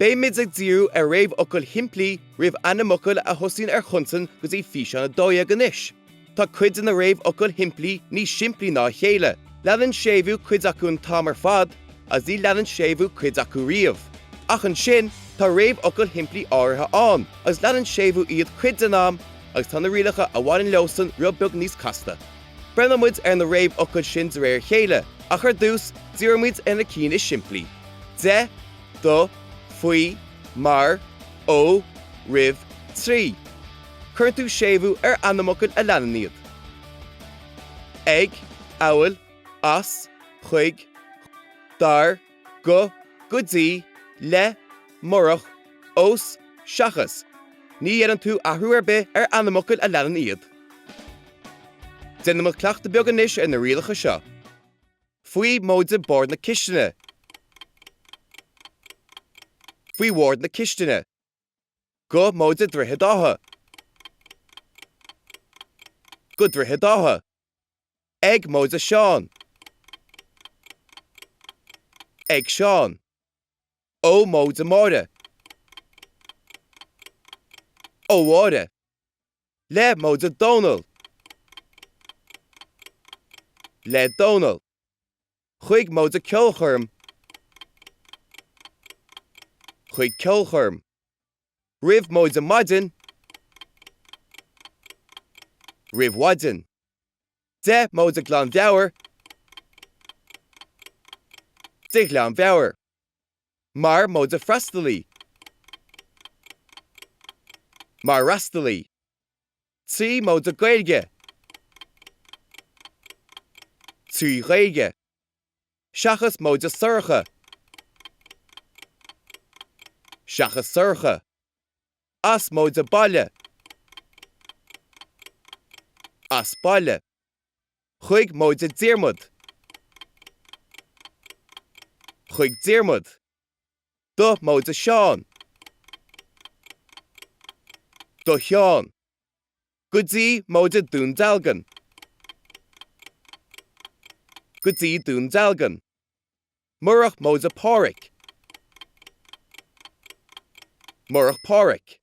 Beimid ag díriú ar réamhfhocail shimplí roimh ainmfhocail a thosaíonn ar chonsain go dtí físeán 12 anois. Tá cuid de na réamhfhocail shimplí níos simplí ná a chéile, leanann séimhiú cuid acu an t-am ar fad agus ní leanann séimhiú cuid acu riamh. Ach ansin, tá réamhfhocail shimplí áirithe ann agus leanann séimhiú iad cuid den am agus tá na rialacha a bhaineann leosan rud beag níos casta. Breathnóidh muid ar na réamhfhocail sin de réir a chéile, ach ar dtús, díreoidh muid ar na cinn is simplí, de, do, faoi, mar, ó, roimh, trí. Cuireann tú séimhiú ar ainmfhocail a leanann iad. ag, amhail, as, chuig, dar, go, go dtí, le, murach, os, seachas, ní dhéanann tú athrú ar bith ar ainmfhocail a leanann iad. Déanaimid cleachtadh beag anois ar na rialacha seo. Faoi, móide, bord na cistine. Faoi, bhord na cistine. go móide Droichead Átha go Droichead Átha ag móide Seán ag Seán ó móide Máire ó Mháire le móide Dónall le Dónall chuig móide ceolchoirm chuig ceolchoirm roimh móide maidin roimh mhaidin de móide glanmheabhair de ghlanmheabhair mar móide freastalaí mar fhreastalaí. trí móide Gaeilge trí Ghaeilge, seachas móide Sorcha seachas Sorcha, as móide baile as baile, chuig móide Diarmuid chuig Diarmuid. Do móide Seán. Do Sheán. Go dtí móide Dún Dealgan. Go dtí Dún Dealgan. Murach móide Páraic. Murach Páraic.